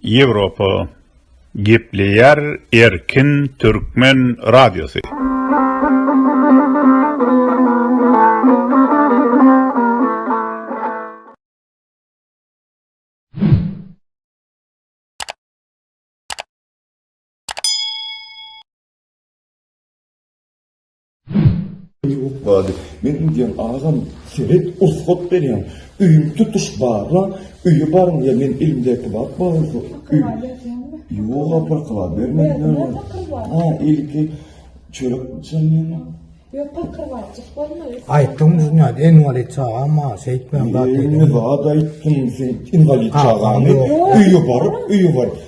Ýewropa gepleýär erkin türkmen radiosy. Ýok bady, men indiyem agam seret ursat berýän, öýüňi tutuş barla, öýe baryň ýa men elimdäki bap barada öý. Ýok apar kala bermezler. Ha, ilki çörek içenýän. Ýok pakyr bar, çyk bolmaz. Aýtdyň dünýä, inwalid çagam bar, şeýtmem zat. Ýene zat aýtdym, sen inwalid çagamy öýe baryp, öýe baryp.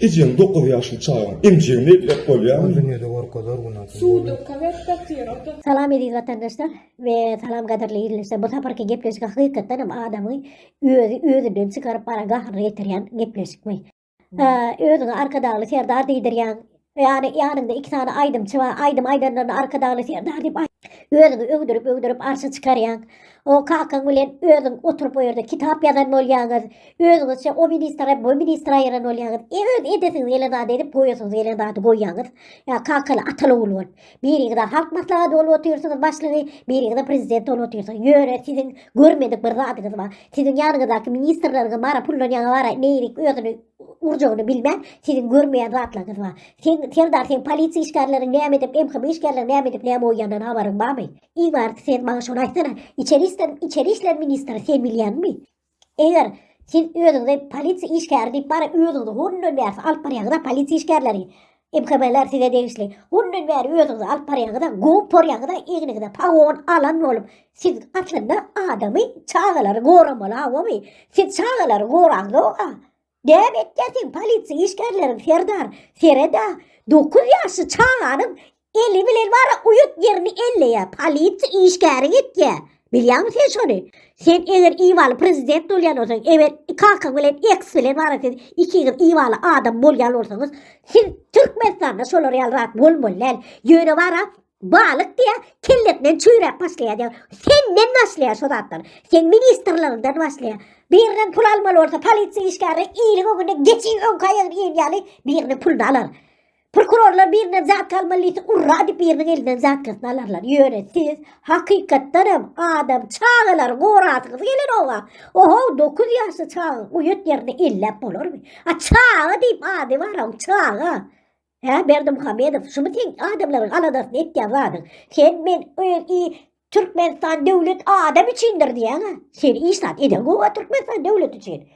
Ejeň dokuz ýaşly çagaň emjegini elläp bolýarmy? Özüne de gorkazar günäsi. Suw dökäber datyr oda. Salam eziz watandaşlar we salam gadyrly ildeşler bu saparky gepleşik hakykatdan hem adamy özi özinden çykaryp bana gahryny getiryan gepleşikmi öziňe arkadagly serdar diydiryan yani yanyňda iki sany aydymçy bar aydym aydanlaryna arkadagly serdar diyip öziňi öwdürip öwdürip arşa çykaryan O kakaň bilen özüň oturyp o ýerde kitap ýazan bolýaňyz. Özüňizçe o ministra, bu ministra ýaran bolýaňyz. E öz edesiňiz gelen zady edip, goýasyňyz gelen zady goýýaňyz. Ýa kakaly ataly ogul bolup. Biriňiz halk maslahaty bolup otyrsyňyz başlygy, biriňiz prezident bolup otyrsyňyz. Ýöne siziň görmedik bir zadyňyz bar. Siziň ýanyňyzdaky ministrleriňiz bara pullanýaňa bara neýrik özüni urjagyny bilmän siziň görmeýän zatlaryňyz bar. Sen Serdar sen polisiýa işgärleriň näme edip, MHM işgärleriň näme edip, näme goýýandan habaryň barmy? Iň barysy sen maňa şony aýtsana, içeri işler, içeri işler ministri sen bilýäňmi? Eger siz özüňizi polisiýa işgäri diýip bara özüňizi hundan bäri alyp barýaňyz polisiýa işgärleri. MKB'ler size degişli. Hundan bäri özüňizi alyp barýaňyz-a, gowup porýaňyz-a, egniňize pagon alan bolup. Siz aslynda adamy, çagalary goramaly awamy? Siz çagalary goraňyz-a? Gäp etýär sen polisiýa işgärleriň serdar. Sereda 9 ýaşly çaganyň eli bilen bara uýat ýerini elleýär. Polisiýa işgäri gitýär. Bilýäňmi sen şony? Sen eger iwaly prezident bolýan bolsaň, eger kakaň bilen eks bilen bara siz ikiňiz iwaly adam bolýan bolsaňyz, siz Türkmenistanda şolar ýaly rat bolmaly däl. Ýöne bara Balyk diýä, kellesinden çüýräp başlaýar diýä. Senden başlaýar şu zatlar. Sen ministrligiňden başlaýar. Birinden pul almaly bolsa, polisiýa işgäri iliň öňünde geçi öňki aýagyny iýen ýaly biriniň puluny alar. Prokurorlar birinden zat almaly diýse, urra diýip biriniň elinden zatkasyny alarlar. Ýöne siz hakykatdan hem adam çagalary gorasyňyz geler oba. Oho, 9 ýaşly çaga uýat ýerini elläp bolarmy? A çaga diýip ady bar, çaga. Hä Berdimuhamedow şumy seň adamlaryň aladasyny etýän zadyň. Sen men öz i Türkmenistan döwlet adam üçindir diýýäňä. Sen iş zat eden gowa Türkmenistan döwlet üçin.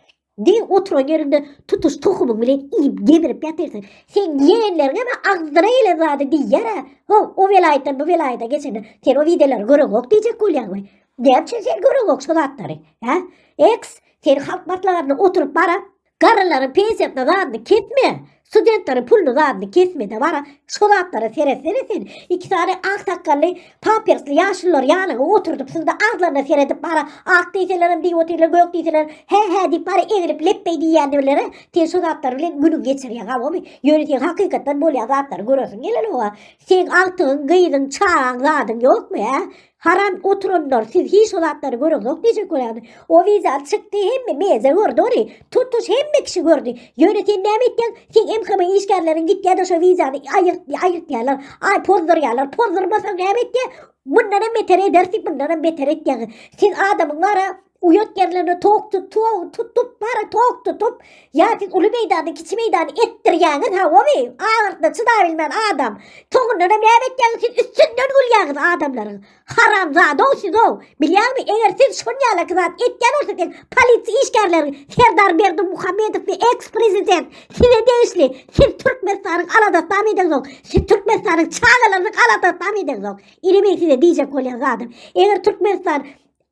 Diň oturan ýerinde tutuş tohumyň bilen iýip gemirip ýatyrsyň. Sen ýegenleriňe we agzyna gelen zady diýýär-ä. Ho, o welaýatdan bu welaýata geçende sen o wideolary göreňok diýjek bolýaňmy? Näme üçin sen göreňok şu zatlary? Hä? Eks, sen halk maslahatyna oturyp barap, Garrylaryň pensiýasyna zadyny kesme, studentleriň puluny zadyny kesmede bara şo zatlara seretsene sen. Iki sany ak sakgally, pampersli ýaşululary ýanyňa oturdyp synda agzlaryna seredip bara ak diýselerem diýip otyrlar, gök diýselerem hä hä diýip bara egrip lepbeý diýýändirler-ä. Sen şo zatlar bilen günüňi geçirýäň habymy? Ýöne sen hakykatdan bolýan zatlary göresiň gelenok-a. Seň agtygyň, gyzyň, çagaň zadyň ýokmy, hä? Haram oturanlar siz hiç şu zatlary göreňok diýjek bolýan. O wideo çykdy hemme meze gördi ony. Tutuş hemme kişi gördi. Ýöne sen näme etdiň? Sen MHM işgärleriň gitýärde şu wideony aýyrt aýyrtýarlar. Ay pozdurýarlar. Pozdurmasaň näme etdi? Bundan hem beter ederdi, bundan hem beter etýäň. Siz adamyň ara Uýat ýerlerine towuk tut, towuk tut, tut bara towuk tutup, ýa siz uly meýdany, kiçi meýdany etdirýäňiz hawaby, agyrdyna çydap bilmän adam. Soňundan hem näme etýäňiz siz üstünden gülýäňiz adamlaryň. Haramzada-ow siz-ow. Bilýäňmi, eger siz şon ýalaky zat etýän bolsasyň, polisiýa işgärleriň Serdar Berdimuhamedow we eks-prezident size degişli. Siz Türkmenistanyň aladasam edeňzok. Siz Türkmenistanyň çagalarynyň aladasam edeňzok. Ine men size diýjek bolýan zadym. Eger Türkmenistan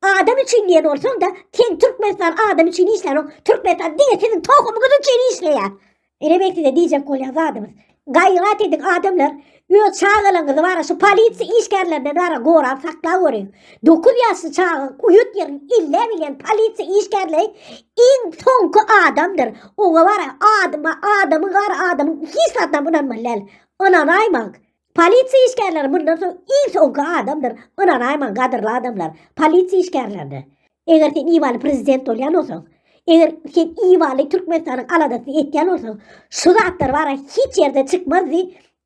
Adam üçin diýen bolsaň-da, sen Türkmenistan adam üçin işlänok. Türkmenistan diňe siziň tohumyňyz üçin işleýär. Ine men size diýjek bolýan zadymyz. Gaýrat ediň adamlar, öz çagalaryňyzy bara şu polisiýa işgärlerinden bara gorap saklap görüň. 9 ýaşly çaga uýut ýerini ille bilýän polisiýa işgärleri iň soňky adamdyr. Oňa bara adyma adamyň gara adamyň hiç zadam ynanmaly däl. Ynanaýmaň. Polisiýa işgärleri mundan soň iň soňky adamdyr, ynanaýmaň gadyrly adamlar, polisiýa işgärlerine. Eger sen ibaly prezident bolýan bolsaň, eger sen ibaly Türkmenistanyň aladasyny etýän bolsaň, şu zatlar bara hiç ýerde çykmazdy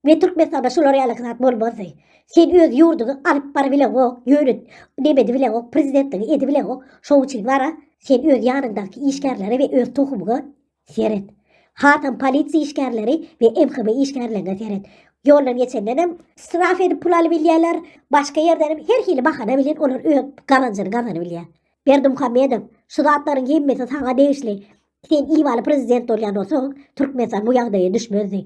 we Türkmenistanda şular ýalyky zat bolmazdy. Sen öz ýurduňy alyp barybileňok, ýöne nebedibileňok, prezidentligi edibileňok, şoň üçin bara sen öz ýanyňdaky işgärlere we öz tohumyňa Seret. Hatam polisiýa işgärleri we MHB işgärlerine seret. Ýoldan geçenden hem straf edip pul alyp bilýärler, başga ýerden hem her hili bahana bilen olar öz gazanjyny gazanyp bilýär. Berdimuhamedow, şu zatlaryň hemmesi saňa degişli. Sen Iwaly prezident bolýan bolsaň, Türkmenistan bu ýagdaýa düşmezdi.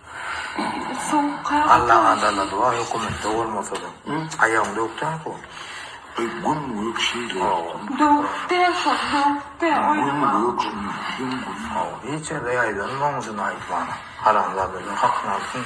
Allaň adala doga hökümetde bolmasada aýagyň döwük dälmi bu. Gün gök şeýle ýokdun. Döwük däl şol döwük däl oýnama. Gün gök şuny diýseň gün. Hawa hiç ýerde ýaýdanma oň üçin aýt maňa. Haramzadalar hakyny alsyn.